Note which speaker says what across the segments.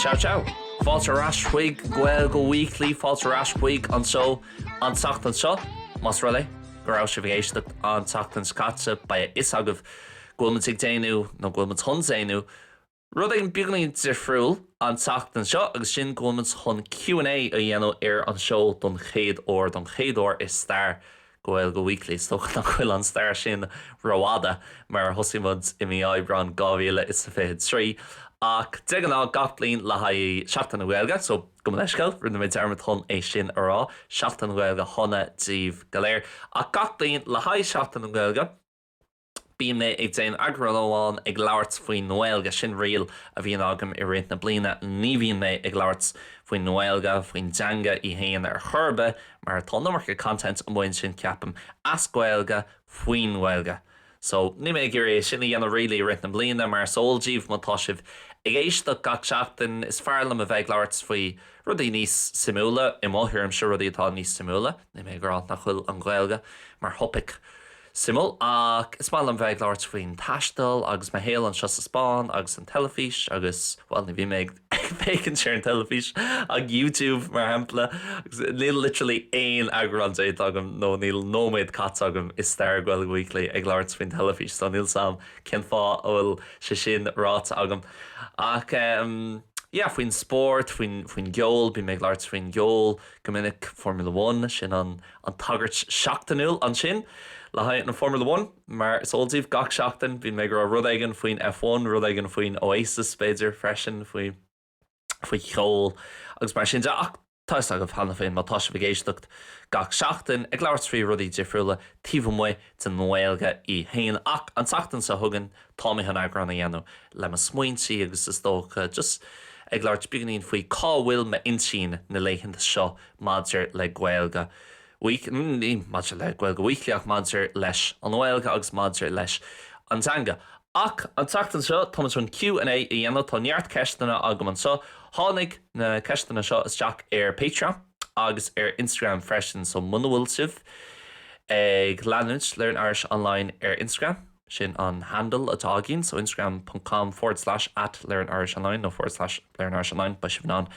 Speaker 1: Ciao ciao! Fáilte ar ais chuig Gaeilge Weekly, fáilte ar ais chuig an seó an tseachtain seo, más rud é go raibh sibh ag éisteacht an tseachtain seo caite, beidh a fhios agaibh go bhfuil muid ag déanamh nó go bhfuil muid chun déanamh Rud éigin beagánín difriúil an tseachtain seo agus sin go bhfuil muid chun Q and A a dhéanamh ar an seó don chéad uair, don chéad uair i stair Gaeilge Weekly. Is dócha nach bhfuil an stair sin ró-fhada mar thosaigh muid i mí Aibreán 2023 ach de ghnáth gach bliain le haghaigh Seachtain na Gaeilge so gabh mo leithscéal, rinne mé dearmad chun é sin a rá, Seachtain na Gaeilge shona díbh go léir. Ach gach bliain le haghaigh Seachtain na Gaeilge, Bíonn mé ag déan eagrán amháin ag labhairt faoin nGaeilge, sin riail a bhíonn agam i rith na bliana, ní bhíonn mé ag labhairt faoin nGaeilge, faoin dteanga í fhéin ar chor ar bith mar tá an iomarca content amuigh ansin ceapaim, as Gaeilge, faoin nGaeilge. So, níl mé ag iarraidh é sin a dhéanamh really i rith na bliana mar is eol daoibh má tá sibh ag éisteacht gach seachtain, is fearr liom a bheith ag labhairt faoi rudaí níos suimiúla, i mo thuairimse rudaí atá níos suimiúla, níl mé ag rá nach bhfuil an Ghaeilge mar thopic. Suimiúil, ach is maith liom bheith ag labhairt faoin taisteal agus mo shaol anseo sa Spáinn agus an teilifís agus, bhuel, ní bhím ag féachaint ar an teilifís ach YouTube, mar shampla, agus níl literally aon eagrán déanta agam nó níl nóiméad caite agam i stair Gaeilge Weekly ag labhairt faoin teilifís so níl 's a'm cén fáth a bhfuil sé sin ráite agam. Ach ehm, yeah, faoin spórt, faoin, faoin gceol, bím ag labhairt faoin gceol go minic, Formula One, sin an, an tagairt seachtainiúil ansin le haghaidh an Formula One. Mar is eol daoibh, gach seachtain bíonn mé ag rá rud éigin faoin F1, rud éigin faoi Oasis, b'fhéidir, freisin, faoi, faoi cheol agus mar sin de. Ach tá 'fhios agaibh cheana féin, má tá sibh ag éisteacht gach seachtain, ag labhairt faoi rudaí difriúla taobh amuigh, den nGaeilge í féin ach an tseachtain seo chugainn tá mé chun eagrán a dhéanamh le mo smaointí agus is dócha just ag labhairt beagáinín faoi cá bhfuil m'intinn na laethanta seo maidir le Gaeilge Week, ní maidir le Gaeilge Weekly ach maidir leis an nGaeilge agus maidir leis an dteanga. Ach an tseachtain seo tá muid chun Q and A a dhéanamh, tá neart ceisteanna agam anseo, tháinig na ceisteanna seo isteach ar Patreon. agus ar Instagram freisin, so muna bhfuil sibh ag leanúint Learn Irish Online ar Instagram, sin an handle atá againn, so instagram.com forward slash at Learn Irish Online nó forward slash Learn Irish Online, beidh sibh in ann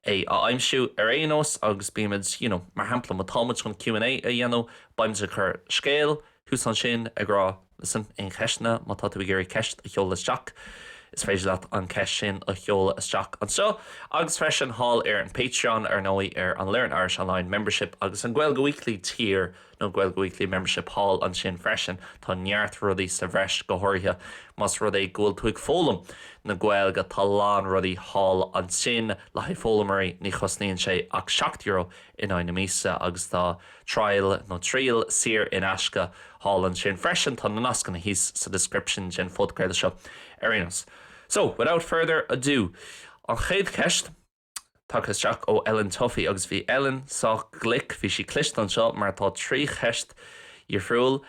Speaker 1: é a aimsiú ar aon nós agus bímid, you know, mar shampla má táimid chun Q&A a dhéanamh, beimid ag cur scéal thuas ansin ag rá, Listen, Aon cheisteanna? Má tá tú ag iarraidh ceist a sheoladh isteach, is féidir leat an cheist sin a sheoladh isteach anseo, agus freisin thall ar an Patreon, ar ndóigh, ar an Learn Irish Online Membership agus an Gaeilge Weekly tier, nó Gaeilge Weekly Membership thall ansin freisin. Tá neart rudaí sa bhreis, go háirithe más rud é go bhfuil tú ag foghlaim na Gaeilge, tá a lán rudaí thall ansin le haghaidh foghlaimeoirí, ní chosnaíonn sé ach seacht euro in aghaidh na míosa agus tá trial nó triail saor in aisce thall ansin freisin. Tá na nascanna thíos sa description den phodchraoladh seo ar aon nós. So, without further ado, an chéad cheist, tagtha isteach ó Ellen Tuffy agus bhí Ellen sách glic, bhí sí cliste anseo mar tá trí cheist dhifriúil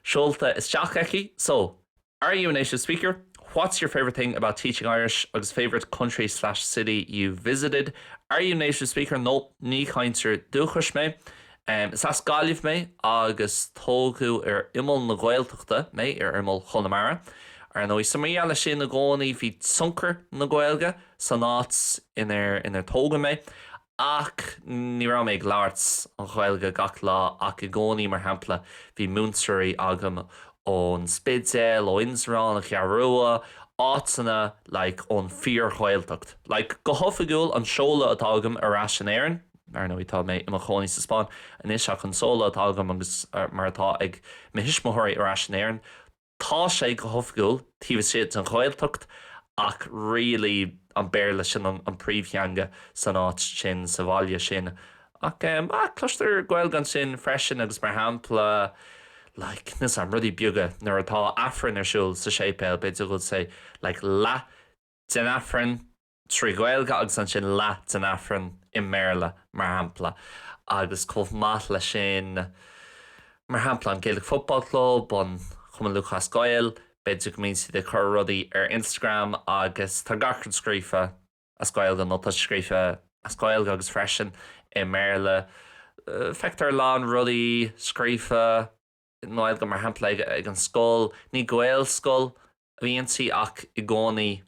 Speaker 1: seolta isteach aici. So. Are you a native speaker? What's your favourite thing about teaching Irish agus favourite country slash city you've visited? Are you a native speaker? No, ní chainteoir dúchais mé. Is as Gaillimh mé agus tógadh ar imeall na Gaeltachta mé, ar imeall Chonamara. Ar ndóigh, so mar gheall air sin i gcónaí bhí tionchar na Gaeilge san áit inar tógadh mé Ach ní raibh mé ag labhairt an Ghaeilge gach lá ach i gcónaí, mar shampla, bhí múinteoirí agam ón Spidéal, ó Indreabhán, an Cheathrú Rua, áiteanna like ón fíor-Ghaeltacht. Like go hoifigiúil, an seoladh atá agam ar ais in Éirinn, ar ndóigh tá mé i mo chónaí sa Spáinn anois ach an seoladh atá agam agus mar atá ag mo thuismitheoirí ar ais in Éirinn, Tá sé go hoifigiúil taobh istigh den Ghaeltacht ach really an Béarla sin an príomhtheanga san áit sin, sa bhaile sin. Ach em ah cloistear Gaeilge ansin freisin agus mar shampla like know some rudaí beaga nuair atá Aifreann ar siúl sa séipéal b'fhéidir go bhfuil say like leath den Aifreann trí Ghaeilge agus ansin leath den Aifreann i mBéarla, mar shampla, agus chomh maith leis sin, mar shampla, an Gaelic Football Club, an Cumann Lúthchleas Gael, b'fhéidir go mbíonn siad ag cur rudaí ar Instagram agus tá gach rud scríofa as Gaeilge nó tá sé scríofa as Gaeilge agus freisin i mBéarla, feictear a lán rudaí scríofa i nGaeilge, mar shampla, ag an scoil, ní Gaelscoil a bhí inti ach i gcónaí.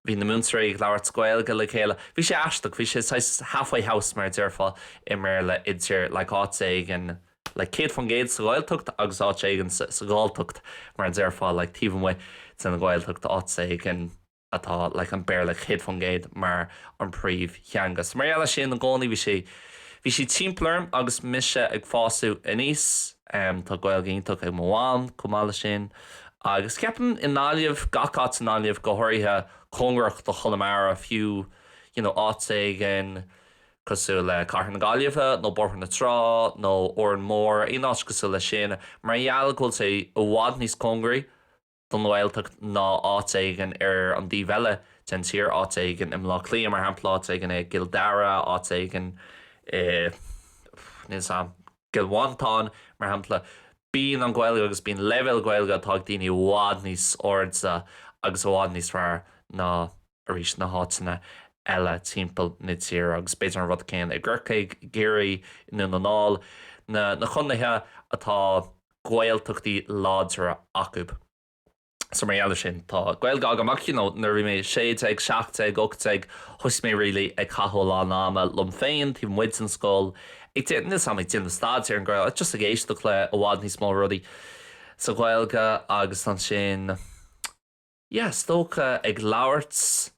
Speaker 1: Bhí na múinteoirí ag labhairt Gaeilge le chéile. Bhí sé aisteach. Bhí sé saghas halfway house, mar a déarfá i mBéarla, idir like áit éigin like céad faoin gcéad sa Ghaeltacht agus áit éigin sa Ghalltacht, mar a déarfá, like taobh amuigh den Ghaeltacht, áit éigin atá like an Béarla céad faoin gcéad mar an príomhtheanga. So mar gheall air sin i gcónaí bhí sé, bhí sé timpeall orm agus mise ag fásadh aníos. Tá Gaeilge iontach ag mo mham, chomh maith leis sin, agus ceapaim i nGaillimh, gach áit i nGaillimh, go háirithe cóngarach do Chonamara, fiú you know áit éigin cosúil le Cathair na Gaillimhe nó Bóthar na Trá nó Órán Mór, aon áit cosúil leis sin, mar gheall go bhfuil sé i bhfad níos cóngaraí don Ghaeltacht ná áit éigin ar an dtaobh eile den tír, áit éigin i mBleá Cliath, mar shampla, áit éigin i gCill Dara, áit éigin i, níl 'fhios a'm, gCill Mhantáin, mar shampla. Bíonn an Ghaeilge agus bíonn leibhéal Gaeilge atá ag daoine i bhfad níos airde agus i bhfad níos fearr ná, arís, na háiteanna eile timpeall na tíre. Agus b'fhéidir an rud céanna i gCorcaigh, i gCiarraí, i nDún na nGall, na contaetha atá. Gaeltachtaí láidre acu. So mar gheall ar sin, tá Gaeilge agam ach you know, nuair a bhí mé sé déag, seacht déag, ocht déag, thosaigh mé really ag caitheamh a lán ama liom féin, taobh amuigh den scoil, ag déanamh, níl 'fhios a'm, ag déanamh staidéar ar an nGaeilge, just ag éisteacht le i bhfad níos mó rudaí sa Ghaeilge agus ansin yeah, is dócha ag labhairt.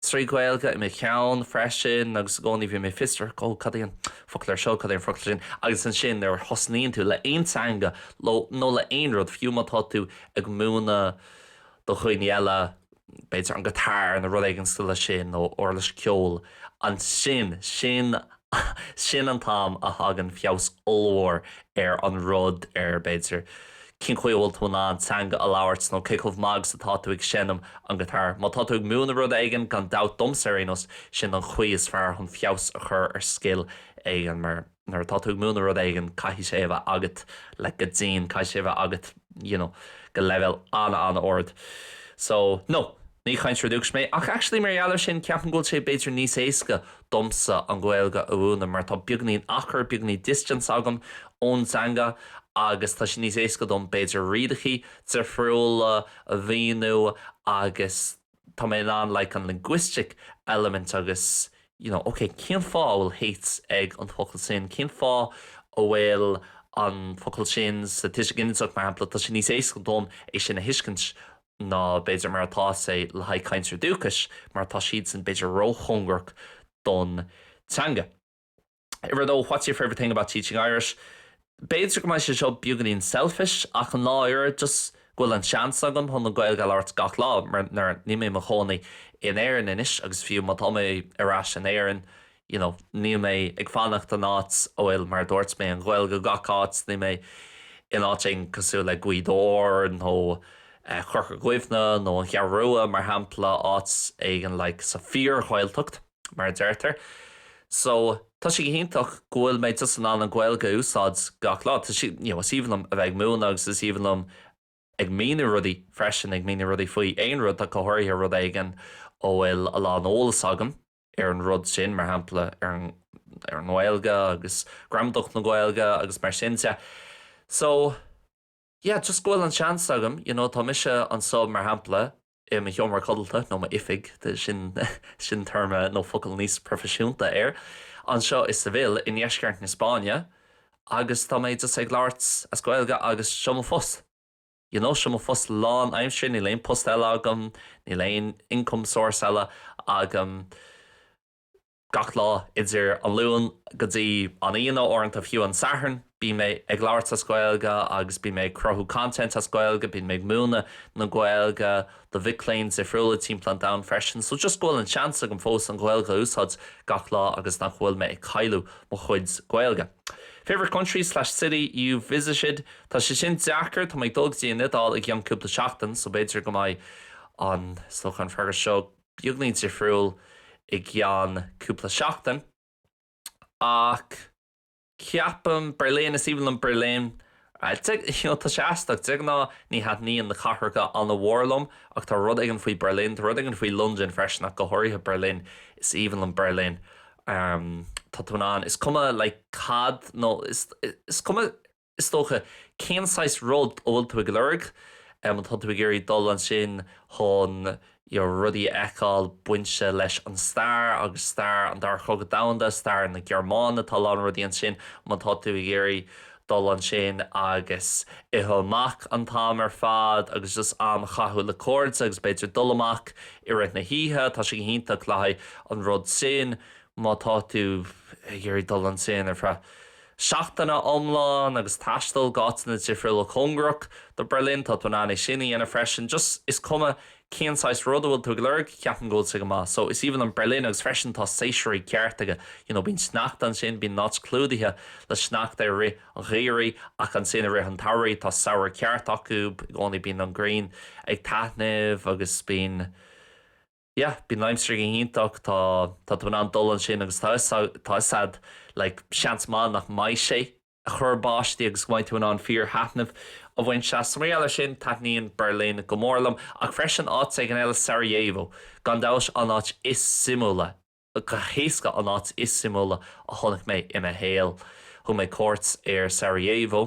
Speaker 1: trí Ghaeilge i mo cheann freisin agus i gcónaí bhí mé fiosrach, oh cad é an focal seo, cad é an focal sin agus ansin nuair a thosnaíonn tú le aon teanga nó le aon rud, fiú má tá tú ag múineadh do dhuine eile, b'fhéidir an guitar nó rud éigin cosúil le sin nó uirlis ceoil, ansin, sin Sin an t-am a thagann feabhas ollmhór ar an rud ar, b'fhéidir, cén chaoi a bhfuil tú in ann teanga a labhairt nó cé chomh maith agus atá tú ag seinm an guitar. Má tá tú ag múineadh rud éigin, gan dabht, domsa ar aon nós, sin an chaoi is fearr chun feabhas a chur ar scil éigin mar nuair atá tú ag múineadh rud éigin, caithfidh sé a bheith agat le go dtí an, caithfidh sé a bheith agat you know go leibhéal an-an-ard. So, no, ní cainteoir dúchais mé ach actually mar gheall ar sin, ceapaim go bhfuil sé b'fhéidir níos éasca domsa an Ghaeilge a mhúineadh mar tá beagainín achair, beagainín distance agam ón dteanga agus tá sé níos éasca dom b'fhéidir rialachaí difriúla a mhíniú agus tá mé in ann like an linguistic element agus you know ok cén fáth a bhfuil H ag an focal sin, cén fáth a bhfuil an focal sin sa tuiseal ginideach mar shampla tá sé níos éasca dom é sin a thuiscint ná b'fhéidir mar atá sé le haghaidh cainteoir dúchais mar tá siadsan b'fhéidir ró-chóngarach don teanga. Uimhir a dó, what's your favourite thing about teaching Irish? B'fhéidir go mbeidh sé seo beagáinín selfish ach an láthair just go bhfuil an seans agam chun an Ghaeilge a labhairt gach lá mar níl mé i mo chónaí in Éirinn anois agus fiú má tá mé ar ais in Éirinn you know níl mé ag fanacht in áit a bhfuil mar a dúirt mé an Ghaeilge gach áit níl mé in áit éigin cosúil le Gaoth Dobhair nó Corca Dhuibhne nó an Cheathrú Rua mar shampla áit éigin like sa fíor Ghaeltacht mar a deirtear so tá sé go hiontach go bhfuil mé just in ann an Ghaeilge a úsáid gach lá you know is aoibhinn liom a bheith ag múineadh agus is aoibhinn liom ag míniú rudaí freisin ag míniú rudaí faoi aon rud go háirithe rud éigin a bhfuil a lán eolas agam ar an rud sin, mar shampla, ar an ar an nGaeilge agus gramadach na Gaeilge agus mar sin de. So, yeah, just go bhfuil an seans agam, you know, tá mise anseo, mar shampla, i mo sheomra codlata nó m'oifig, sin sin téarma nó focal níos proifisiúnta air, anseo i Seville i ndeisceart na Spáinne agus tá mé just ag labhairt as Gaeilge agus seo mo phost. you know seo mo phost lán aimsire níl aon post eile agam níl aon income source eile agam gach lá idir an Luan go dtí an Aoine nó uaireanta fiú an Satharn bím mé ag labhairt as Gaeilge agus bím mé ag cruthú content as Gaeilge bím mé ag múineadh na Gaeilge do mhic léinn difriúla timpeall an domhain freisin so just go bhfuil an seans agam fós an Ghaeilge a úsáid gach lá agus nach bhfuil mé ag cailleadh mo chuid Gaeilge. Favourite country slash city you've visited? Tá sé sin deacair, tá mé ag dul go dtí an Iodáil i gceann cúpla seachtain so b'fhéidir go mbeidh an toghchán freagra seo beagnín difriúil i gceann cúpla seachtain ach, Ceapaim, Berlin, is aoibhinn liom Berlin. Tá sé aisteach, de ghnáth ní thaitníonn na cathracha an-mhór liom ach tá rud éigin faoi Berlin, tá rud éigin faoi London freisin ach go háirithe Berlin, is aoibhinn liom Berlin. Tá tú in ann, is cuma like cad nó is cuma is dócha cén saghas rud a bhfuil tú ag lorg, tá tú ag iarraidh dul ansin chun, rudaí a fheiceáil bainte leis an stair agus stair an Dara Cogadh Domhanda, stair na Gearmáine, tá a lán rudaí ansin má tá tú ag iarraidh dul ansin agus ithe amach an t-am ar fad agus just am a chaitheamh le cairde agus b'fhéidir dul amach i rith na hoíche, tá sé go hiontach le haghaidh an rud sin má tá tú ag iarraidh dul ansin ar feadh. seachtaine iomlán agus taisteal go áiteanna difriúla cóngarach do Berlin, tá tú in ann é sin a dhéanamh freisin just is cuma cén saghas rud a bhfuil tú ag lorg, ceapaim go bhfuil sé go maith. So is aoibhinn liom Berlin agus freisin tá séasúir ceart aige, you know bíonn sneachta ansin, bíonn an áit clúdaithe le sneachta i rith an gheimhridh ach ansin i rith an tsamhraidh tá samhradh ceart acu i gcónaí bíonn an ghrian ag taitneamh agus bíonn. yeah bíonn an aimsir go hiontach tá tá tú in ann dul ansin agus tá a fhios a'd like seans maith nach mbeidh sé a' cur báistí agus go mbeidh tú in ann fíor thaitneamh a bhaint as, is maraon le sin taitníonn Berlin go mór liom ach freisin áit éigin eile Sarajevo gan dabht an áit is suimiúla go héasca an áit is suimiúla a chonaic mé i mo shaol thug mé cuairt ar Sarajevo.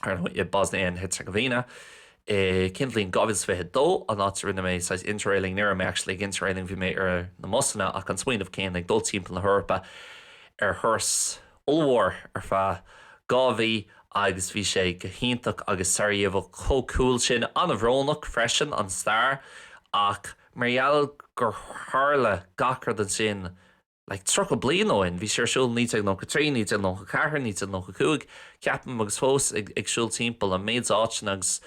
Speaker 1: ar ndóigh, i Bosnia and Herzegovina. i gceann bliain 2022, an áit a rinne mé saghas interrailing, ní raibh mé actually ag interrailing, bhí mé ar na mbusanna, ach an smaoineamh céanna, ag dul timpeall na hEorpa ar thuras ollmhór ar feadh dhá mhí agus bhí sé go hiontach agus tá Sarajevo chomh cool sin, an-bhrónach freisin, an stair ach mar gheall gur tharla gach rud ansin like tríocha bliain ó shin, bhí sé ar siúl 1993, 1994, 1995, ceapaim, agus fós ag siúl timpeall, an méid áiteanna agus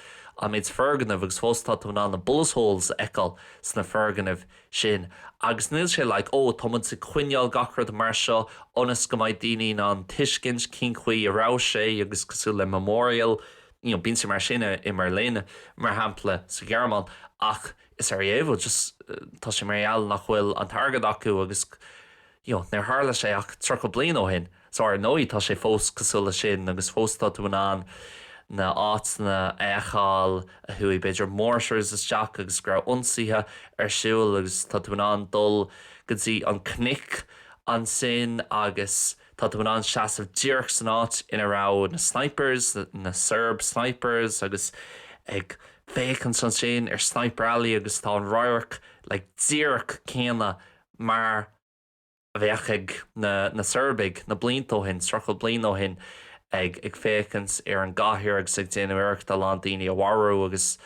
Speaker 1: an méid foirgneamh agus fós tá tú in ann na bullet holes a fheiceáil sna foirgnimh sin agus níl sé like oh tá muid ag coinneáil gach rud mar seo ionas go mbeidh daoine in ann tuiscint cén chaoi a raibh sé agus cosúil le memorial you know bíonn sé mar sin i mBerlin mar shampla sa Ghearmáin ach i Sarajevo just tá sé mar gheall nach bhfuil an t-airgead acu agus you know níor tharla sé ach 30 bliain ó shin so ar ndóigh tá sé fós cosúil leis sin agus fós tá tú in ann na háiteanna a fheiceáil a chuaigh b'fhéidir mortars isteach agus go raibh ionsaithe ar siúl agus tá tú in ann dul go dtí na cnoic ansin agus Tá tú in ann seasamh díreach san áit ina raibh na snipers, na Serb snipers, agus ag féachaint ansin ar Sniper Alley agus tá an radharc like díreach céanna mar a bheadh ag na na Seirbigh na blianta ó shin, tríocha bliain ó shin ag ag féachaint ar an gcathair agus ag déanamh iarrachta a lán daoine a mharú agus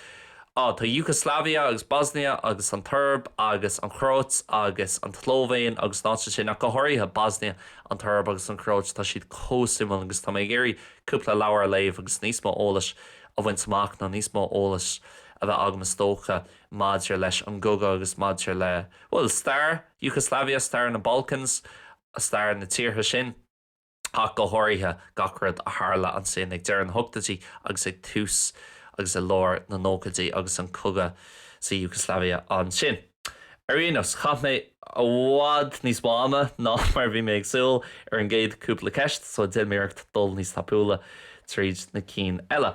Speaker 1: Á, tá Yugoslavia agus Bosnia agus an tSeirb agus an Chróit agus an tSlóivéin agus na háiteanna sin, ach go háirithe Bosnia, an tSeirb agus an Chróit, tá siad chomh suimiúil agus tá mé ag iarraidh cúpla leabhar a léamh agus níos mó eolais a bhaint amach nó níos mó eolais a bheith agam is dócha maidir leis an gcogadh agus maidir le, bhuel, stair Yugoslavia, stair na Balkans, stair na tíortha sin. ach go háirithe gach rud a tharla ansin ag deireadh na hochtóidí agus ag tús agus i lár na nóchaidí agus an cogadh sa Yugoslavia ansin. Ar aon nós, chaith mé i bhfad níos mó ama ná mar a bhí mé ag súil ar an gcéad cúpla ceist, so déanfaidh mé iarracht dul níos tapúla tríd na cinn eile.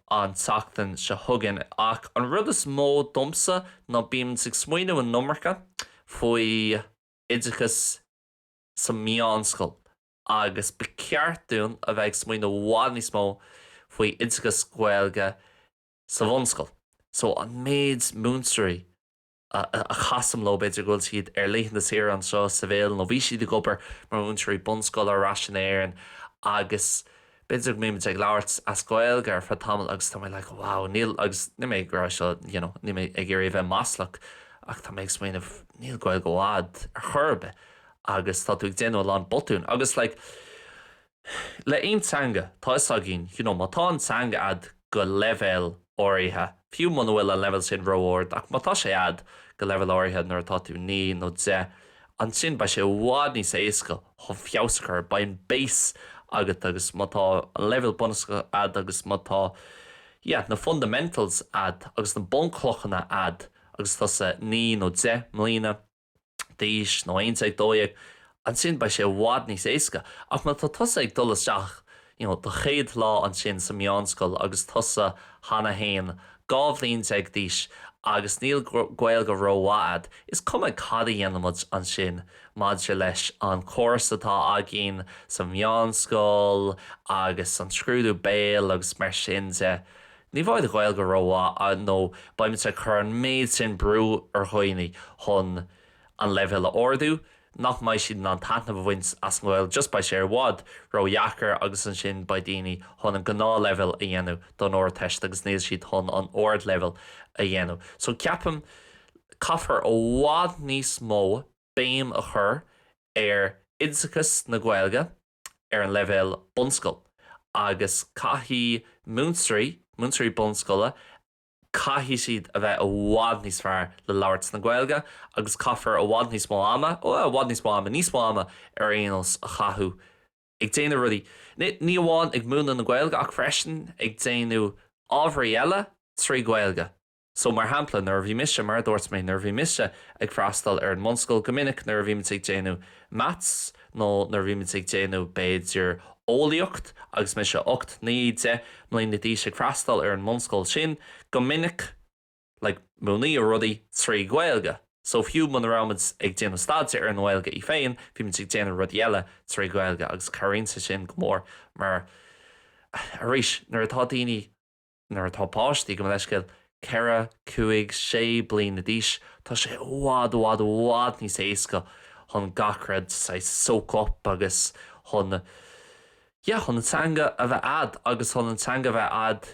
Speaker 1: an tseachtain seo chugainn ach an rud is mó domsa ná bíonn muid ag smaoineamh an iomarca faoi oideachas sa mheánscoil agus ba cheart dúinn a bheith ag smaoineamh i bhfad níos mó faoi oideachas Gaeilge sa bhunscoil so an méid múinteoirí a chasaim leo, b'fhéidir go bhfuil siad ar laethanta saoire anseo sa Bhéal nó bhí siad ag obair mar mhúinteoirí bunscoile ar ais in Éirinn agus b'fhéidir go mbímid ag labhairt as Gaeilge ar feadh tamaill agus tá mé like wow níl agus níl mé ag rá seo you know níl mé ag iarraidh a bheith maslach ach tá mé ag smaoineamh níl Gaeilge mhaith a'd ar chor ar bith agus tá tú ag déanamh a lán botún agus like le aon teanga 'tá 'fhios againn you know má tá an teanga a'd go leibhéal áirithe, fiú muna bhfuil an leibhéal sin ró-ard ach má tá sé a'd go leibhéal áirithe nuair atá tú naoi nó deich ansin beidh sé i bhfad níos éasca chun feabhas a chur, beidh an base agat agus má tá an leibhéal bunúsach a'd agus má tá yeah na fundamentals a'd agus na bunchlochanna a'd agus tusa naoi nó deich mbliana. d'aois, nó aon déag, dó dhéag, ansin beidh sé i bhfad níos éasca. Ach má tá tusa ag dul isteach you know do chéad lá ansin sa meánscoil agus tusa cheana fhéin dhá bhliain déag d'aois agus níl Gaeilge rómhaith a'd, is cuma cad a dhéanaimid ansin maidir leis an córas atá againn sa meánscoil agus an scrúdú béil agus mar sin de, Ní bheidh an Gaeilge rómhaith nó beimidne ag cur an méid sin brú ar dhaoine chun an leibhéal a ardú nach mbeidh siad in ann taitneamh a bhaint as an Ghaeilge just beidh sé i bhfad ródheacair agus ansin beidh daoine chun an gnáthleibhéal a dhéanamh don Ardteist agus níl siad chun an ardleibhéal a dhéanamh so ceapaim caithfear i bhfad níos mó béim a chur ar oideachas na Gaeilge ar an leibhéal bunscoil agus caithfidh múinteoirí, múinteoirí bunscoile, caithfidh siad a bheith i bhfad níos fearr le labhairt na Gaeilge agus caithfear i bhfad níos mó ama, i bhfad níos mó ama, níos mó ama ar aon nós, a chaitheamh ag déanamh rudaí, ní amháin ag múineadh na Gaeilge ach freisin ag déanamh ábharaí eile trí Gaeilge. So, mar shampla, nuair a bhí mise, mar a dúirt mé, nuair a bhí mise ag freastal ar an mbunscoil, go minic nuair a bhímid ag déanamh maths nó nuair a bhímid ag déanamh, b'fhéidir, eolaíocht agus mise ocht, naoi, deich mbliana d'aois ag freastal ar an mbunscoil sin, go minic, like, múineadh rudaí trí Ghaeilge. So, fiú muna raibhimid ag déanamh staidéir ar an nGaeilge í féin, bhímid ag déanamh rudaí eile trí Gaeilge agus cabhraíonn sé sin go mór mar, arís, nuair atá daoine, Nuair atá páistí, gabh mo leithscéal, ceithre, cúig, sé bliana d'aois, tá sé i bhfad, i bhfad, i bhfad níos éasca chun gach rud saghas soak up agus chun, yeah, chun an teanga a bheith a'd agus chun an teanga a bheith a'd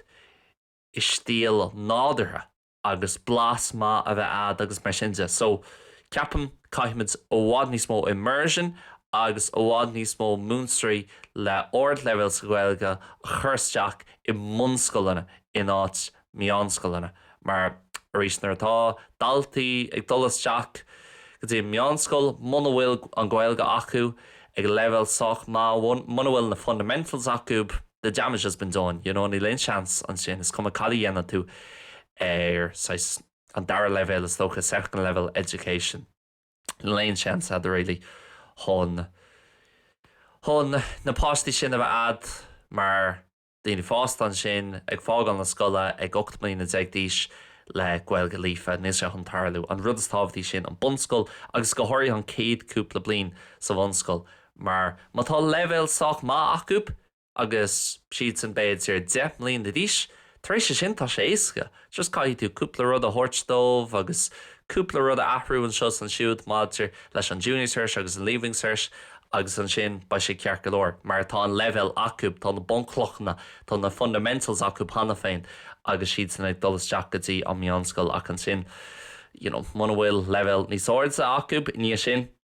Speaker 1: i stíl nádúrtha. agus blas maith a bheith a'd agus mar sin de. So, ceapaim, caithfimid i bhfad níos mó immersion agus i bhfad níos mó múinteoirí le ardleibhéal sa Ghaeilge a chur isteach i mbunscoileanna in áit meánscoileanna mar, arís, nuair atá daltaí ag dul isteach go dtí an meánscoil, muna bhfuil an Ghaeilge acu, ag leibhéal sách maith, muna bhfuil na fundamentals acu, the damage has been done, you know, níl aon seans ansin, is cuma cad a dhéanann tú ar saghas an dara leibhéal is dócha, second level education, níl aon seans a'd really chun, chun na páistí sin a bheith a'd mar. daoine fásta ansin ag fágáil na scoile ag 18 mbliana d'aois le Gaeilge líofa, níl sé chun tarlú. An rud is tábhachtaí sin an bunscoil agus go háirithe an chéad cúpla bliain sa bhunscoil mar má tá leibhéal sách maith acu agus siadsan b'fhéidir 10 mbliana d'aois, tar éis sin tá sé éasca. Just caithfidh tú cúpla rud a thabhairt dóibh agus cúpla rud a athrú anseo is ansiúd maidir leis an Junior Cert agus an Leaving Cert agus ansin beidh sé ceart go leor mar tá an leibhéal acu, tá na bunchlochanna, tá na fundamentals acu cheana féin agus siadsan ag dul isteach go dtí an meánscoil ach ansin, you know, muna bhfuil leibhéal níos airde acu i ndiaidh sin.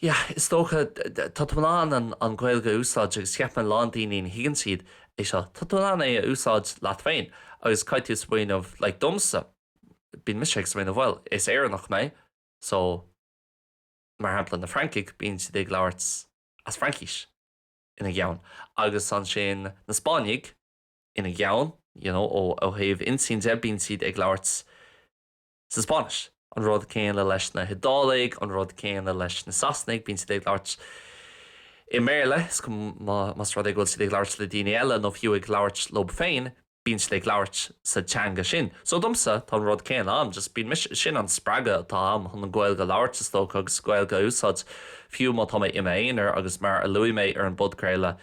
Speaker 1: Yeah, is dócha. Tá tú in ann an Ghaeilge a úsáid agus ceapaim a lán daoine ní thuigeann siad é seo. Tá tú in ann é a úsáid leat féin agus caithfidh tú smaoineamh like domsa bíonn mise ag smaoineamh bhuel is Éireannach mé so mar shampla na Francaigh bíonn siad ag labhairt as Fraincis ina gceann agus ansin na Spáinnigh ina gceann you know ó thaobh intinn de bíonn siad ag labhairt sa Spáinnis. An rud céanna leis na hIodálaigh, an rud céanna leis na Sasanaigh, bíonn siad ag labhairt i mBéarla, is cuma más rud é go bhfuil siad ag labhairt le daoine eile nó fiú ag labhairt leo féin, bíonn siad ag labhairt sa teanga sin. So domsa, tá an rud céanna ann, just bíonn mise, sin an spreagadh atá a'm chun an Ghaeilge a labhairt is dócha agus Gaeilge a úsáid fiú má tá mé i m'aonar agus mar a luaigh mé ar an bpodchraoladh,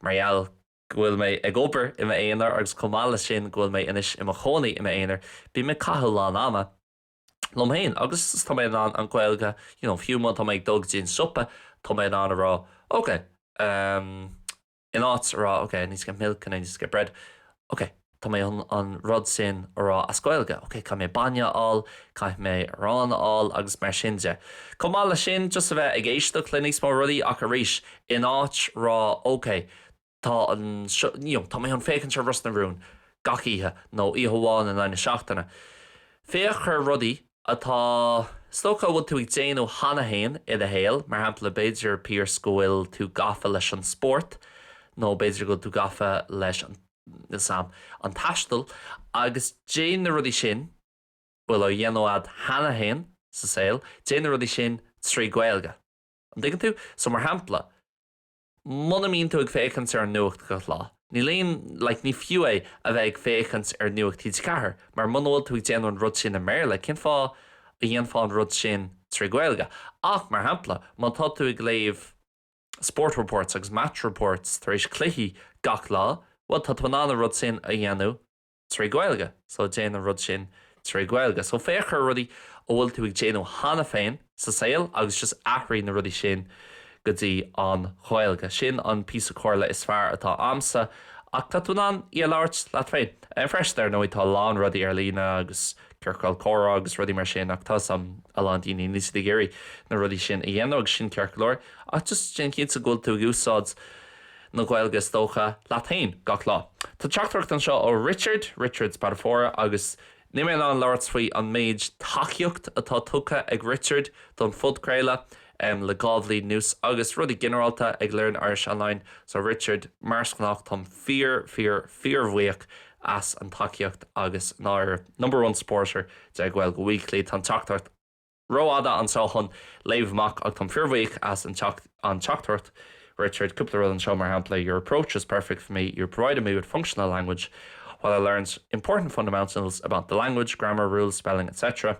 Speaker 1: mar gheall. go bhfuil mé ag obair i m'aonar agus chomh maith leis sin go bhfuil mé anois i mo chónaí i m'aonar, bím ag caitheamh a lán ama liom féin agus tá mé in ann an Ghaeilge, you know, fiú má tá mé ag dul go dtí an siopa, tá mé in ann a rá, okay, um, in áit a rá, okay, I need to get milk and I need to get bread, okay. Tá mé chun an rud sin a rá as Gaeilge, ok, caithfidh mé bainne a fháil, caithfidh mé arán a fháil agus mar sin de. Chomh maith leis sin, just a bheith ag éisteacht le níos mó rudaí ach arís, in áit rá ok, tá an, you know, tá mé chun féachaint ar Ros na Rún gach oíche nó oíche amháin in aghaidh na seachtaine, féach ar rudaí atá, is dócha a bhfuil tú ag déanamh cheana féin i do shaol, mar shampla, b'fhéidir Pierce go bhfuil tú gafa leis an spórt nó b'fhéidir go bhfuil tú gafa leis an. leis an taisteal agus déan na rudaí sin bhfuil á dhéanamh agat cheana féin sa saol, déan na rudaí sin trí Ghaeilge. An dtuigeann tú? So, mar shampla, muna mbíonn tú ag féachaint ar an nuacht gach lá, níl aon, like, ní fiú é a bheith ag féachaint ar Nuacht TG4 mar muna bhfuil tú ag déanamh an rud sin i mBéarla, cén fáth a dhéanfá an rud sin trí Ghaeilge? Ach, mar shampla, má tá tú ag léamh. sport reports agus match reports tar éis cluichí gach lá, bhuel tá tú in ann an rud sin a dhéanamh trí Ghaeilge so déan an rud sin trí Ghaeilge. So féach ar rudaí a bhfuil tú ag déanamh cheana féin sa saol agus just athraigh na rudaí sin go dtí an Ghaeilge. Sin an píosa comhairle is fearr atá a'msa ach tá tú in ann í a labhairt leat féin freisin. Ar ndóigh tá a lán rudaí ar líne agus. ciorcail chomhrá agus rudaí mar sin ach tá a lán daoine níl siad ag iarraidh na rudaí sin a dhéanamh agus sin ceart go leor ach just déan cinnte go bhfuil tú ag úsáid na Gaeilge is dócha, leat féin gach lá. Tá teachtaireacht anseo ó Richard, Richard Spadafora agus níl mé in ann labhairt faoi an méid tacaíocht atá tugtha ag Richard don phodchraoladh. em, le dhá bhliain anuas agus rudaí ginearálta ag Learn Irish Online, so Richard, mar is gnách, táim fíor, fíor, fíorbhuíoch as an tacaíocht agus i ndáiríre, number one supporter de Gaeilge Weekly, tá an teachtaireacht rófhada anseo chun léamh amach ach táim fíorbhuíoch as an teacht, an teachtaireacht Richard, cúpla rud anseo, mar shampla, your approach was perfect for me, you provided me with functional language while I learned important fundamentals about the language, grammar, rules, spelling, etc.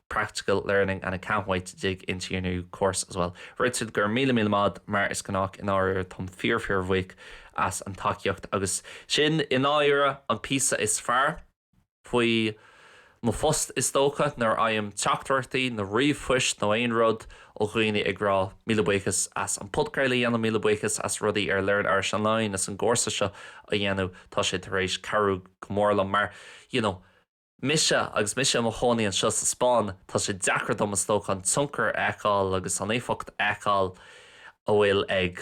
Speaker 1: practical learning and I can't wait to dig into your new course as well. Richard go raibh míle míle maith mar is gnách i ndáiríre táim fíor fíorbhuíoch as an tacaíocht agus sin i ndáiríre an píosa is fearr faoi mo phost is dócha nuair a fhaighim teachtaireachtaí nó ríomhphoist nó aon rud ó dhaoine ag rá míle buíochas as an podchraoladh a dhéanamh míle buíochas as rudaí ar Learn Irish Online as an gcúrsa seo a dhéanamh tá sé tar éis cabhrú go mór liom mar you know Mise, agus mise i mo chónaí anseo sa Spáinn, tá sé deacair dom, is dócha, an tionchar a fheiceáil agus an éifeacht a fheiceáil a bhfuil ag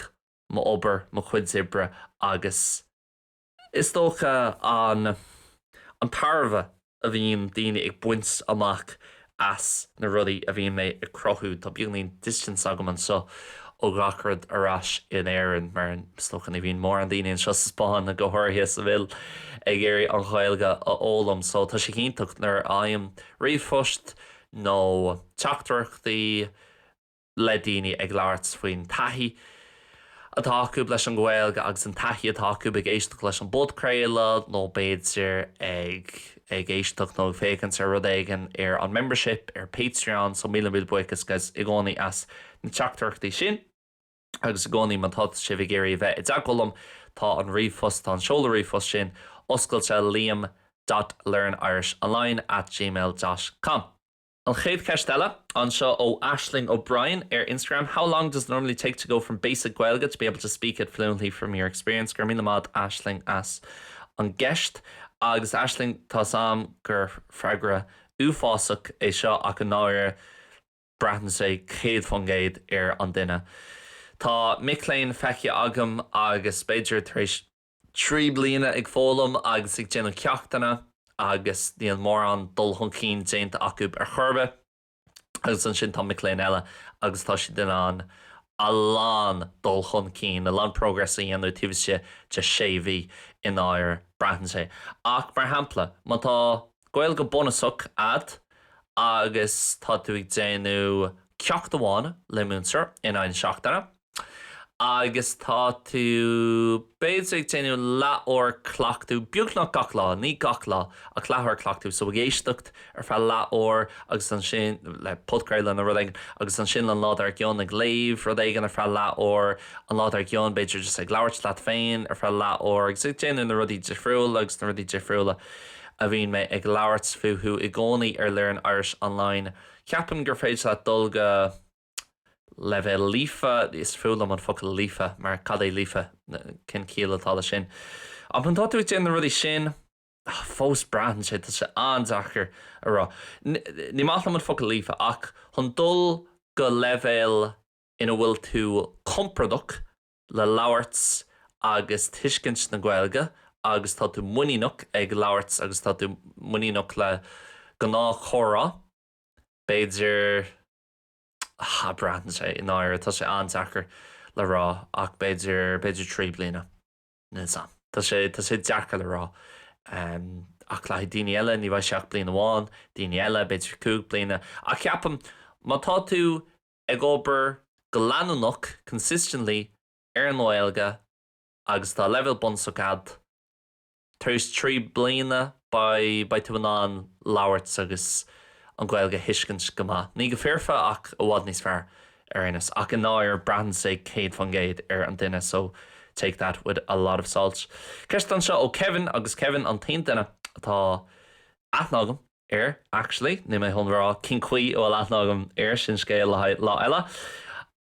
Speaker 1: mo obair, mo chuid oibre agus, is dócha, an tairbhe a bhíonn daoine ag baint amach as na rudaí a bhíonn mé ag cruthú, tá beagainín distance agam anseo ó ghach rud ar ais in Éirinn, mar is dócha ní bhíonn mórán daoine anseo sa Spáinn go háirithe a bhfuil ag iarraidh an Ghaeilge a fhoghlaim, so tá sé iontach nuair a fhaighim ríomhphost nó teachtaireachtaí, le daoine ag labhairt faoin taithí atá acu leis an Ghaeilge agus an taithí atá acu ag éisteacht leis an bpodchraoladh nó b'fhéidir ag éisteacht nó ag féachaint ar rud éigin ar an membership ar Patreon so míle míle buíochas guys i gcónaí as na teachtaireachtaí sin agus i gcónaí má tá sibh ag iarraidh a bheith i dteagmháil liom tá an ríomhphost, tá an seoladh ríomhphost sin oscailte, liam dot learn irish online at gmail dot com. An chéad cheist eile, anseo ó Aisling O'Brien ar Instagram, How long does it normally take to go from basic Gaeilge to be able to speak it fluently from your experience? Go raibh míle maith a'd Aisling as an gceist. Agus Aisling, tá's a'm gur freagra uafásach é seo ach i ndáiríre braitheann sé céad faoin gcéad ar an duine. Tá mic léinn feicthe agam agus b'fhéidir tar éis. trí bliana ag foghlaim agus ag déanamh ceachtanna agus níl mórán dul chun cinn déanta acu ar chor ar bith agus ansin tá mic léinn eile agus tá siad in ann a lán dul chun cinn, a lán progress a dhéanamh taobh istigh de sé mhí i ndáiríre braitheann sé ach mar shampla má tá Gaeilge bunusach a'd agus tá tú ag déanamh ceacht amháin le múinteoir in aghaidh na seachtaine. Agus tá tú, b'fhéidir, ag déanamh leathuair cleachtadh, beagnach gach lá, ní gach lá, ach leathuair cleachtadh, so ag éisteacht ar feadh leathuair agus ansin, le podchraoladh nó rud éigin, agus ansin an lá dár gcionn ag léamh rud éigin ar feadh leathuair, an lá dár gcionn, b'fhéidir, just ag labhairt leat féin ar feadh leathuair agus ag déanamh na rudaí difriúla agus na rudaí difriúla a bhíonn mé ag labhairt fúthu i gcónaí ar Learn Irish Online, ceapaim gur féidir leat dul go. leibhéal líofa, is fuath liom an focal líofa mar cad é líofa? cén ciall atá leis sin? ach má tá tú ag déanamh na rudaí sin, fós braitheann sé, tá sé an-deacair a rá, ní maith liom an focal líofa ach chun dul go leibhéal ina bhfuil tú compordach le labhairt agus tuiscint na Gaeilge agus tá tú muiníneach ag labhairt agus tá tú muiníneach le gnáthchomhrá, b'fhéidir. ha, braitheann sé, i ndáiríre, tá sé an-deacair le rá ach b'fhéidir, b'fhéidir trí bliana, níl 's a'm, tá sé, tá sé deacair le rá ehm ach caithfidh daoine eile, ní bheidh sé ach bliain amháin, daoine eile, b'fhéidir cúig bliana ach ceapaim má tá tú ag obair go leanúnach, consistently, ar an nGaeilge agus tá leibhéal bunúsach a'd, Tar éis trí bliana, beidh tú in ann labhairt agus an Ghaeilge a thuiscint go maith. Ní go foirfe, ach i bhfad níos fearr, ar aon nós. Ach i ndáiríre, braitheann sé céad fan gcéad ar an duine, so take that with a lot of salt. Ceist anseo ó Kevin, agus Kevin an t-aon duine a bhfuil aithne agam air, actually. Níl mé chun a rá cén chaoi a bhfuil aithne agam air, sin scéal le haghaidh lá eile.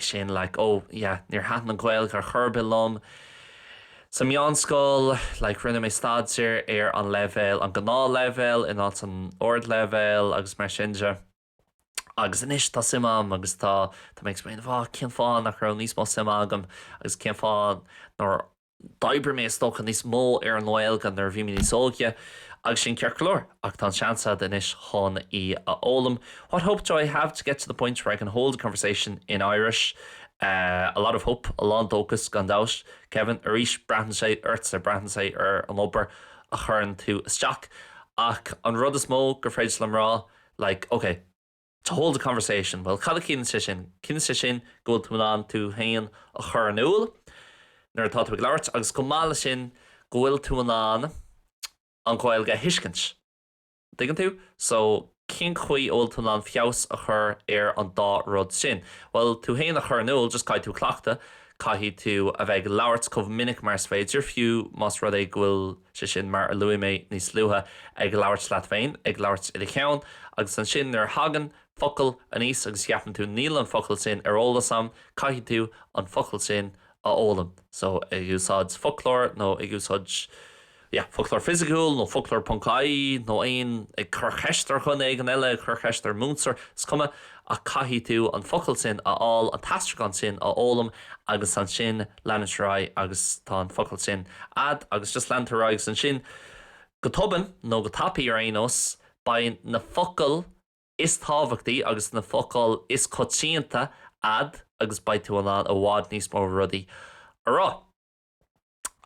Speaker 1: sin, like, oh, yeah, níor thaitin an Ghaeilge ar chor ar bith liom sa meánscoil, like, rinne mé staidéar ar an leibhéal, an gnáthleibhéal in áit an ardleibhéal agus mar sin de agus anois tá suim agam agus tá, tá mé ag smaoineamh, oh, cén fáth nach raibh níos mó suime agam agus cén fáth nár. d'oibrigh mé, is dócha, níos mó ar an nGaeilge nuair a bhí mé níos óige, agus sin ceart go leor, ach tá an seans agat anois chun í a fhoghlaim, what hope do I have to get to the point where I can hold a conversation in Irish? Eh, a lot of hope, a lán dóchais, gan dabht. Kevin, arís, braitheann sé ortsa, braitheann sé ar an obair a chuireann tú isteach, ach an rud is mó gur féidir liom rá, like, okay, To hold a conversation, bhuel, cad a chiallaíonn sé sin? Ciallaíonn sé sin go bhfuil tú in ann tú féin a chur in iúl nuair atá tú ag labhairt agus chomh maith leis sin go bhfuil tú in ann an Ghaeilge a thuiscint. An dtuigeann tú? So, cén chaoi a bhfuil tú in ann feabhas a chur ar an dá rud sin? Bhuel, tú féin a chur in iúl, just caithfidh tú cleachtadh, caithfidh tú a bheith ag labhairt chomh minic mar is féidir, fiú más rud é go bhfuil, sé sin, mar a luaigh mé níos luaithe, ag labhairt leat féin, ag labhairt i do cheann, agus ansin nuair a thagann focal aníos agus ceapann tú 'níl an focal sin ar eolas a'm', caithfidh tú an focal sin a fhoghlaim, so ag úsáid foclóir nó ag úsáid, yeah, foclóir fisiciúil nó foclóir ponc ie, nó aon, ag cur cheist ar dhuine éigin eile, ag cur cheist ar mhúinteoir, is cuma, Ach caithfidh tú an focal sin a fháil, an t-aistriúchán sin a fhoghlaim agus ansin leanann tú ar aghaidh agus tá an focal sin a'd agus just leanann tú ar aghaidh agus ansin go tobann, nó go tapaidh ar aon nós, beidh na focail is tábhachtaí agus na focail is coitianta a'd agus beidh tú in ann i bhfad níos mó rudaí a rá.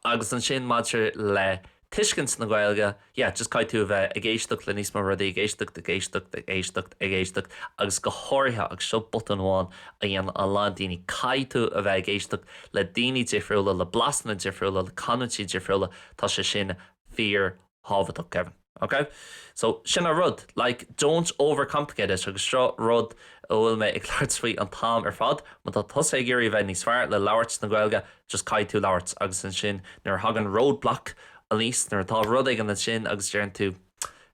Speaker 1: Agus ansin maidir le tuiscint na Gaeilge, yeah, just caithfidh tú a bheith ag éisteacht le níos mó rudaí, ag éisteacht, ag éisteacht, ag éisteacht, ag éisteacht agus go háirithe, agus seo botún amháin a dhéanann a lán daoine, caithfidh tú a bheith ag éisteacht le daoine difriúla, le blasanna difriúla, le canúintí difriúla, tá sé sin fíor thábhachtach, Kevin, ok? So, sin an rud, like, don't overcomplicate it agus seo rud a bhfuil mé ag labhairt faoi an t-am ar fad, má tá tusa ag iarraidh a bheith níos fearr le labhairt na Gaeilge, just caithfidh tú labhairt agus ansin nuair a thagann roadblock aníos, nuair atá rud éigin ansin agus deireann tú,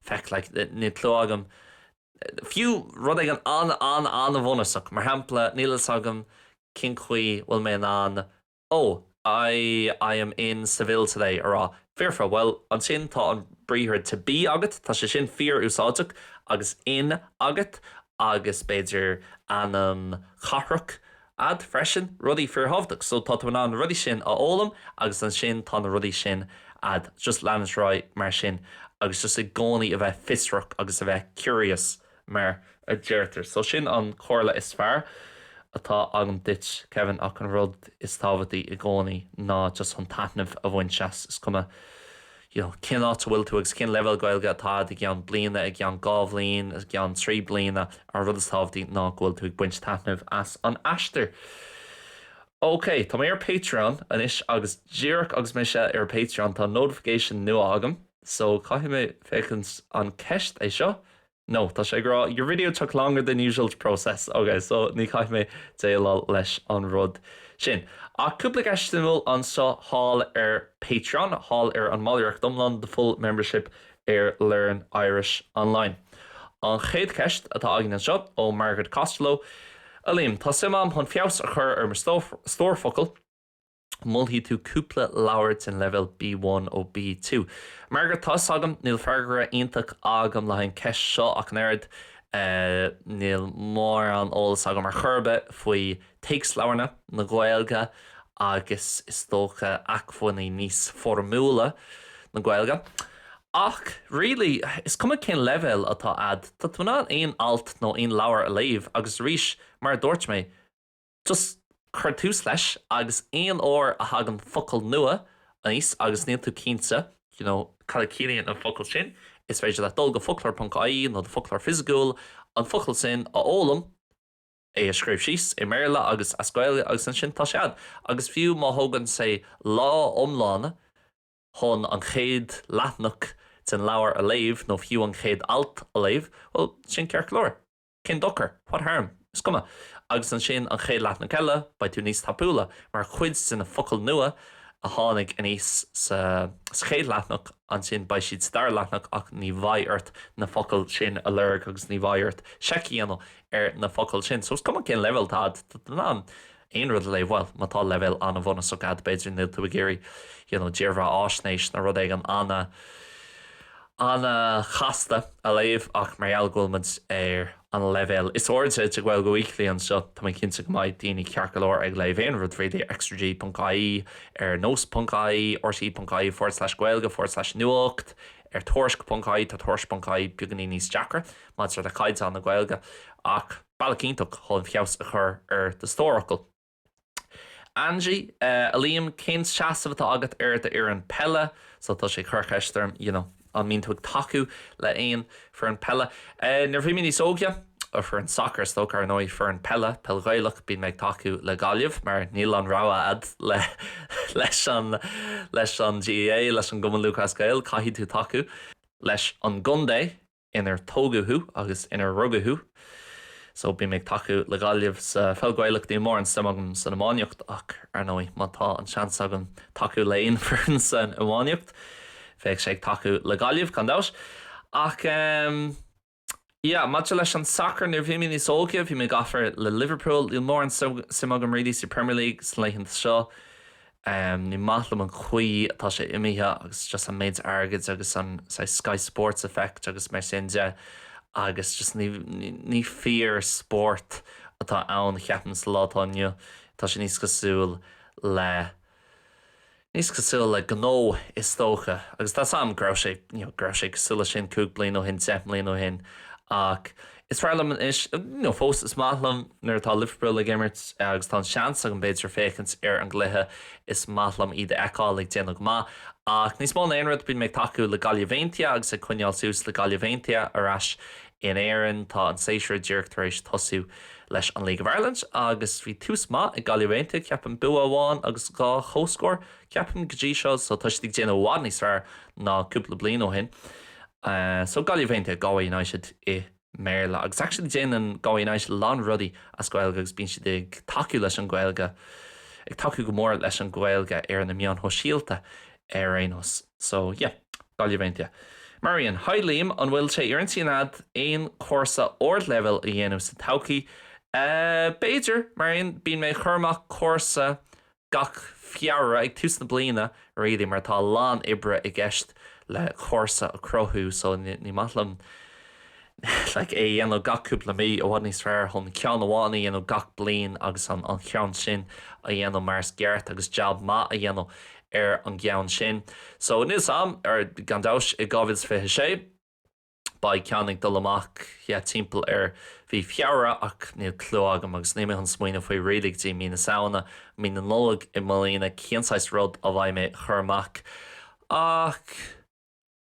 Speaker 1: feic, like, níl clue agam, fiú rud éigin an-an-an-bhunúsach, mar shampla, níl a fhios agam cén chaoi a bhfuil mé in ann Oh, I, I am in Seville today, a rá. Foirfe, bhuel, ansin tá an briathar to be agat, tá sé sin fíor-úsáideach, agus in agat, agus b'fhéidir ainm chathrach a'd freisin, rudaí fíorthábhachtach. So tá tú in ann na rudaí sin a fhoghlaim agus ansin tá na rudaí sin a'd. Just leanúint ar aghaidh mar sin agus just i gcónaí a bheith fiosrach agus a bheith curious. mar a deirtear. So sin an comhairle is fearr atá agam duit, Kevin, ach an rud is tábhachtaí i gcónaí ná just chun taitneamh a bhaint as, is cuma you know cén áit a bhfuil tú agus cén leibhéal Gaeilge atá agat i gceann bliana, i gceann dhá bhliain, i gceann trí bliana, an rud is tábhachtaí ná go bhfuil tú ag baint taitneamh as an aistear. OK, tá mé ar Patreon anois agus díreach agus mise ar Patreon tá notification nua agam. so caithfidh mé féachaint an ceist é seo? No, tá sé ag rá your video took longer than usual to process, ok so ní caithfidh mé déileáil leis an rud sin. Ach cúpla ceist suimiúil anseo thall ar Patreon, thall ar an mballraíocht iomlán the full membership ar Learn Irish Online. An chéad cheist atá againn anseo ó Margaret Costello, A Liam, tá suim agam chun feabhas a chur ar mo stór focal, an molfaidh tú cúpla leabhar den leibhéal B1 nó B2. Margaret, tá's agam, níl freagra iontach agam le haghaidh an cheist seo ach an oiread. Níl mórán eolas agam ar chor ar bith faoi téacsleabharna na Gaeilge agus is dócha acmhainní níos foirmiúla na Gaeilge. Ach really, is cuma cén leibhéal atá a'd, tá tú in ann aon alt nó aon leabhar a léamh agus arís, mar a dúirt mé, Just cuir tús leis agus aon uair a thagann focal nua aníos agus níl tú cinnte you know cad a chiallaíonn an focal sin, is féidir leat dul go foclóir ponc ie nó do foclóir fisiciúil, an focal sin a fhoghlaim, é a scríobh síos i mBéarla agus as Gaeilge agus ansin tá sé a'd. Agus fiú má thógann sé lá iomlán chun an chéad leathnach den leabhar a léamh nó fiú an chéad alt a léamh, bhuel, sin ceart go leor. Cén dochar? What harm? Is cuma. Agus ansin, an chéad leathnach eile, beidh tú níos tapúla, mar cuid de na focail nua a tháinig aníos sa chéad leathnach, ansin beidh siad sa dara leathnach ach ní bheidh ort na focail sin a lorg agus ní bheidh ort seic a dhéanamh ar na focail sin. So is cuma cén leibhéal atá agat, tá tú in ann aon rud a léamh, bhuel, má tá leibhéal an-bhunúsach agat, b'fhéidir, níl tú ag iarraidh you know dírbheathaisnéis nó rud éigin ana, ana-chasta a léamh ach mar gheall go bhfuil muid ar an leibhéal is airde de Gaeilge Weekly anseo, tá mé cinnte go mbeidh daoine ceart go leor ag léamh aon rud really ar Extra G ponc ie, ar nós ponc ie, rte ponc ie forward slash gaeilge forward slash nuacht, ar tuairisc ponc ie, tá tuairisc ponc ie beagáinín níos deacra maidir le caighdeán na Gaeilge ach. Bealach iontach chun feabhas a chur ar do stórfhocal. Angie, Eh, a Liam, cén seasamh atá agat ar do fhoireann peile? So tá sé ag cur cheist orm, you know, an mbíonn tú ag tacú le aon foireann peile. Eh, nuair a bhí mé níos óige, or foireann sacair is dócha, ar ndóigh, foireann peile, peil Ghaelach, bíonn mé ag tacú le Gaillimh mar níl aon rogha a'd le, leis an, leis an GAA, leis an gCumann Lúthchleas Gael, caithfidh tú tacú leis an gcontae. inar tógadh thú agus inar rugadh thú so bím ag tacú le Gaillimh sa pheil Gaelach, níl mórán suim agam san iománaíocht ach ar ndóigh má tá an seans agam tacú le aon fhoireann san iománaíocht bheadh sé ag tacú le Gaillimh gan dabht ach ehm yeah maidir leis an sacar nuair bhí mé níos óige bhí mé gafa le Liverpool, níl mórán suim agam really sa Premier League sna laethanta seo. Ní maith liom an chaoi atá sé imithe agus just an méid airgid agus an saghas Sky Sports effect agus mar sin de agus just ní, ní fíor spórt atá ann ceapaim sa lá atá inniu. Tá sé níos cosúil le, níos cosúil le gnó is dócha agus tá 's a'm go raibh sé, you know, go raibh sé cosúil le sin cúig bliana ó shin, deich mbliana ó shin ach Is fearr liom anois, nó fós is maith liom nuair atá Liverpool ag imirt agus tá an seans agam, b'fhéidir, féachaint ar an gcluiche. Is maith liom iad a fheiceáil ag déanamh go maith. Ach níos mó ná aon rud, bím ag tacú le Gaillimh Aontaithe agus ag coinneáil suas le Gaillimh Aontaithe ar ais in Éirinn. Tá an séasúr díreach tar éis tosú leis an League of Ireland agus bhí tús maith ag Gaillimh Aontaithe, ceapaim. Bua amháin agus dhá chomhscór, ceapaim, go dtí seo, so tá siad ag déanamh i bhfad níos fearr ná cúpla bliain ó shin. Eh so Gaillimh Aontaithe, Galway United i mBéarla. Agus actually déanann Galway United a lán rudaí as Gaeilge agus bíonn siad ag tacú leis an Ghaeilge, ag tacú go mór leis an Ghaeilge ar na meáin shóisialta ar aon nós. So yeah, Gaillimh Aontaithe. Marian, Hi Liam, an bhfuil sé ar intinn a'd aon chúrsa ardleibhéil a dhéanamh sa todhchaí? Eh, b'fhéidir, Marian, bíonn mé ag cur amach cúrsa Gach Feabhra ag tús na bliana really mar tá a lán oibre i gceist le cúrsa a cruthú so ní maith liom like é a dhéanamh gach cúpla mí, i bhfad níos fearr chun ceann amháin a dhéanamh gach bliain agus an cheann sin a dhéanamh mar is ceart agus jab maith a dhéanamh ar an gceann sin. So níl 's a'm ar gan dabht i 2026. Beidh ceann ag dul amach yeah timpeall ar mhí Feabhra ach níl clue agam agus níl mé chun smaoineamh faoi really go dtí mí na Samhana, mí na Nollag i mbliana cén saghas rud a bheidh mé chur amach ach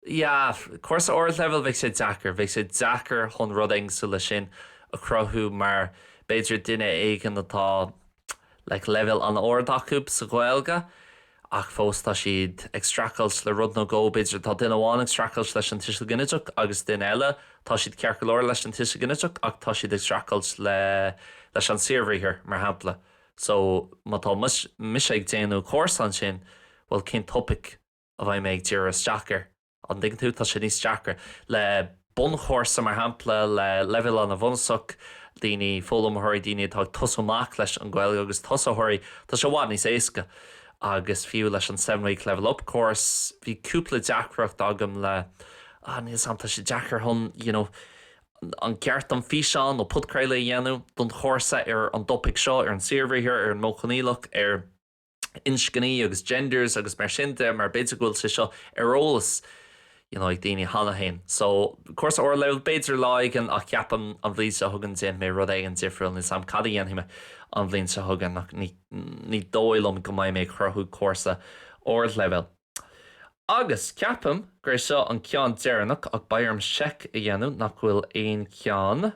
Speaker 1: yeah cúrsa ardleibhéal bheidh sé deacair, bheidh sé deacair chun rud éigin cosúil le sin a chruthú mar b'fhéidir duine éigin atá like leibhéal an-ard acu sa Ghaeilge ach fós tá siad ag streachailt le rud nó dhó, b'fhéidir. Tá duine amháin ag streachailt leis an tuiseal ginideach agus duine eile, tá siad ceart go leor leis an tuiseal ginideach ach tá siad ag streachailt le, leis an saorbhriathar, mar shampla. So, má tá mise ag déanamh cúrsa ansin, bhuel, cén topaic a bheidh mé ag díriú isteach air? An dtuigeann tú? Tá sé níos deacra le bunchúrsa, mar shampla, le leibhéal an-bhunúsach, daoine, foghlaimeoirí, daoine atá ag tosú amach leis an Ghaeilge agus tosaitheoirí, tá sé i bhfad níos éasca. Agus fiú leis an seven week level up course, bhí cúpla deacracht agam le, ah, níl 's agam, tá sé deacair chun, you know, an gceart dom físeán nó podchraoladh a dhéanamh don chúrsa ar an dtopaic seo, ar an saorbhriathar, ar an Modh Coinníollach, ar. inscní agus genders agus mar sin de mar b'fhéidir go bhfuil sé seo ar eolas you know ag daoine cheana féin. So, cúrsa ardleibhéil, b'fhéidir lá éigin ach ceapaim an bhliain seo chugainn déanfaidh mé rud éigin difriúil, níl 's agam cad a dhéanfaidh mé an bhliain seo chugainn ach ní ní dóigh liom go mbeidh mé ag cruthú cúrsa ardleibhéil. Agus ceapaim gur é seo an ceann deireanach ach beidh orm seic a dhéanamh nach bhfuil aon cheann.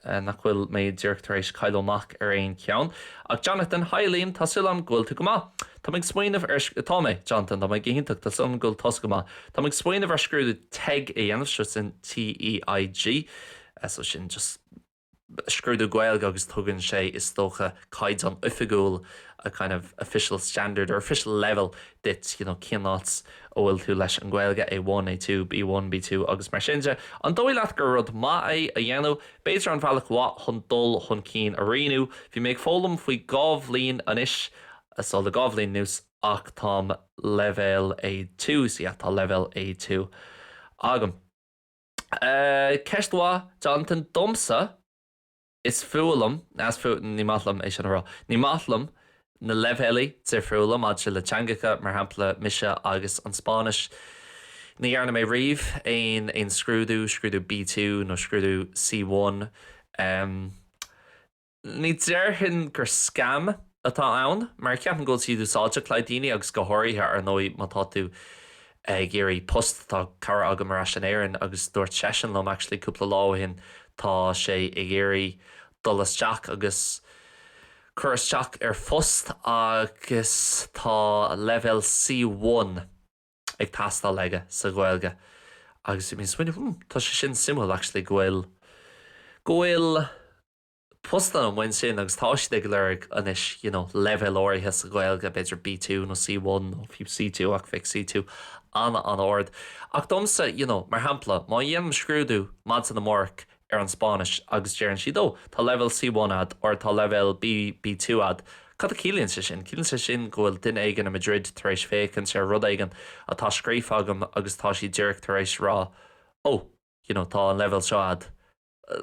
Speaker 1: nach bhfuil mé díreach tar éis cailleadh amach ar aon cheann. Ach Jonathan, haigh a Liam, tá súil agam go bhfuil tú go maith. Tá mé ag smaoineamh ar, tá mé, Jonathan, tá mé go hiontach, tá súil agam go bhfuil tusa go maith. Tá mé ag smaoineamh ar scrúdú teg a dhéanamh, so sin T-E-G, so sin just scrúdú Gaeilge agus tugann sé, is dócha, caighdeán oifigiúil, a kind of official standard or official level duit, you know, cén áit a bhfuil tú leis an Ghaeilge, A1, A2, B1, B2 agus mar sin de. An dóigh leat gur rud maith é a dhéanamh? B'fhéidir an bealach mhaith chun dul chun cinn a rianú? Bhí mé ag foghlaim faoi dhá bhliain anois, so le dhá bhliain anuas ach táim leibhéal A2, so yeah, tá leibhéal A2 agam. Eh, ceist mhaith, Jonathan, domsa. Is fuath liom, is fuath, ní maith liom é sin a rá, ní maith liom na leibhéalaí difriúla maidir le teangacha, mar shampla, mise agus an Spáinnis, ní dhearna mé riamh aon, aon scrúdú, scrúdú B-two nó scrúdú C-one, em, ní déarfainn gur scam atá ann, mar ceapaim go bhfuil siad úsáideach le haghaidh daoine agus go háirithe, ar ndóigh, má tá tú, ag iarraidh post, tá cara agam ar ais in Éirinn agus dúirt seisean liom actually cúpla lá ó shin tá sé ag iarraidh dul isteach agus cur isteach ar phost agus tá leibhéal C1 ag teastáil aige sa Ghaeilge agus bhí mé ag smaoineamh hmm tá sé sin suimiúil actually go bhfuil go bhfuil postanna amháin sin agus tá siad ag lorg anois you know leibhéal áirithe sa Ghaeilge, b'fhéidir B2 nó C1 nó fiú C2 ach bheadh C2 an-an-ard. Ach domsa you know mar shampla má dhéanaim scrúdú maidin amárach ar an Spáinnis agus deireann siad oh tá leibhéal C1 a'd or tá leibhéal B, B2 a'd, cad a chiallaíonn sé sin? Ciallaíonn sé sin go bhfuil duine éigin i Madrid tar éis féachaint ar rud éigin atá scríofa agam agus tá siad díreach tar éis rá oh you know tá an leibhéal seo a'd.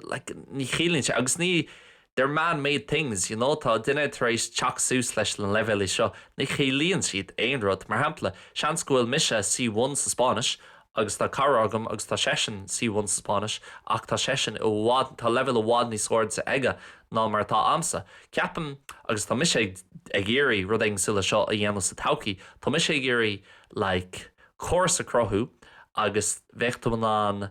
Speaker 1: like, ní chiallaíonn sé, agus ní, they're man-made things, you know, tá duine tar éis teacht suas leis na leibhéalaí seo, ní chiallaíonn siad aon rud. Mar shampla, seans go bhfuil mise C1 sa Spáinnis agus tá cara agam agus tá seisean C1 sa Spáinnis ach tá seisean, tá leibhéal i bhfad níos airde aige ná mar atá a'msa. Ceapaim, agus tá mise ag, ag iarraidh rud cosúil le seo a dhéanamh sa todhchaí, tá mise ag iarraidh, like, córas a chruthú agus bheadh tú in ann,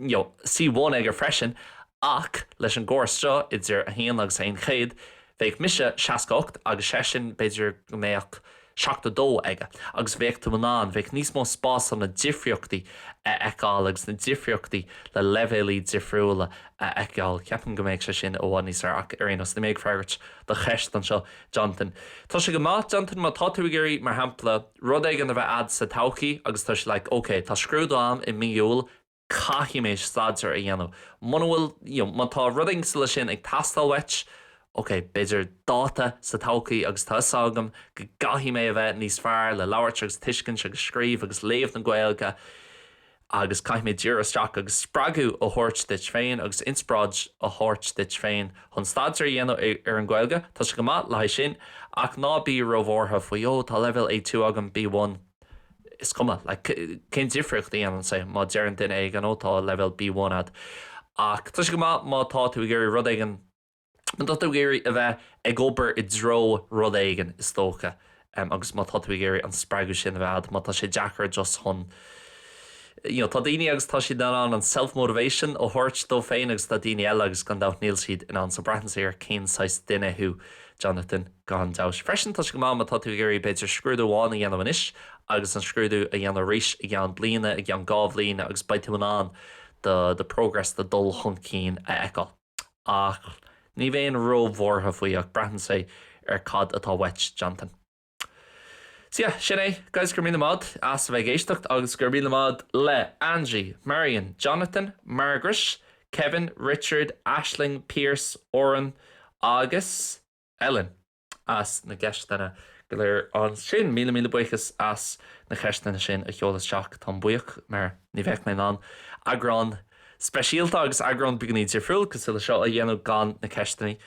Speaker 1: C1 aige freisin, ach leis an gcóras seo, idir 1 agus 100, bheadh mise 68 agus seisean, b'fhéidir go mbeadh 72 aige, agus bheadh tú in ann, bheadh níos mó spása na difríochtaí a fheiceáil agus na difríochtaí le leibhéalaí difriúla a fheiceáil. Ceapaim go mbeadh sé sin i bhfad níos fearr ach ar aon nós, níl mé ag freagairt do cheist anseo Jonathan. Tá sé go maith Jonathan, má tá tú ag iarraidh, mar shampla, rud éigin a bheith a'd sa todhchaí agus tá siad like ok tá scrúdú a'm i mí Iúil caithfidh mé staidéar a dhéanamh muna bhfuil you know má tá rud cosúil le sin ag teastáil uait ok b'fhéidir dáta sa todhchaí agus tá 'fhios agam go gcaithfidh mé a bheith níos fearr le labhairt agus tuiscint agus scríobh agus léamh na Gaeilge agus caithfidh mé díriú isteach agus spreagadh a thabhairt duit féin agus inspioráid a thabhairt duit féin chun staidéar a dhéanamh ar an Gaeilge, tá sé go maith le haghaidh sin ach ná bí róbhuartha faoi oh, tá leibhéal A2 agam, B1, is cuma, like, cén difríocht a dhéanann sé má deireann duine éigin oh, tá leibhéal B1 a'd ach tá sé go maith má tá tú ag iarraidh rud éigin má tá tú ag iarraidh a bheith ag obair i dtreo rud éigin, is dócha, agus má tá tú ag iarraidh an spreagadh sin a bheith a'd, má tá sé deacair just chun, you know, tá daoine agus tá siad in ann an self-motivation a thabhairt dóibh féin agus tá daoine eile agus gan dabht níl siad in ann. So braitheann sé ar cén saghas duine thú, Jonathan, gan dabht. Freisin, tá sé go maith má tá tú ag iarraidh, b'fhéidir, scrúdú amháin a dhéanamh anois agus an scrúdú a dhéanamh arís i gceann bliana, i gceann dhá bhliain agus beidh tú in ann do, do progress, do dhul chun cinn a fheiceáil. ach ní bheinn ró-bhuartha faoi ach braitheann sé ar cad atá uait, Jonathan. So yeah, sin é, guys, go raibh míle maith as a bheith ag éisteacht agus go raibh míle maith le Angie, Marian, Jonathan, Margaret, Kevin, Richard, Aisling, Pearse, Oran agus Ellen. as na gceisteanna go léir ansin. Míle míle buíochas as na ceisteanna sin a sheoladh isteach. Táim buíoch mar ní bheadh mé in ann eagrán speisialta agus eagrán beagní difriúil cosúil le seo a dhéanamh gan na ceisteannaí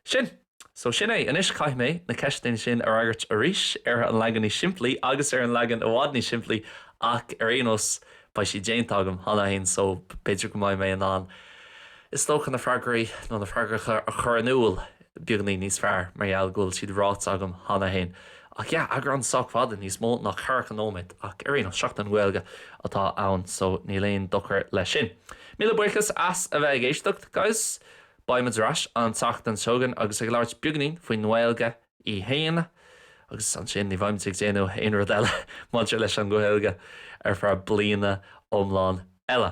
Speaker 1: sin. So sin é. Anois caithfidh mé na ceisteannaí sin a fhreagairt arís ar an leagan níos simplí agus ar an leagan i bhfad níos simplí ach ar aon nós beidh sí déanta agam cheana féin so b'fhéidir go mbeidh mé in ann is dócha na freagraí nó na freagracha a chur in iúl beagní níos fearr mar gheall go bhfuil siad ráite agam cheana féin. Ach yeah, eagrán sách fada, níos mó ná ceathracha nóiméad, ach ar aon nós, Seachtain na Gaeilge atá ann so níl aon dochar leis sin. Míle buíochas as a bheith ag éisteacht, guys. Beimid ar ais an tseachtain seo chugainn agus ag labhairt beagnín faoin nGaeilge í fhéin, agus ansin ní bheimid ag déanamh aon rud eile maidir leis an nGaeilge ar feadh bliana iomlán eile.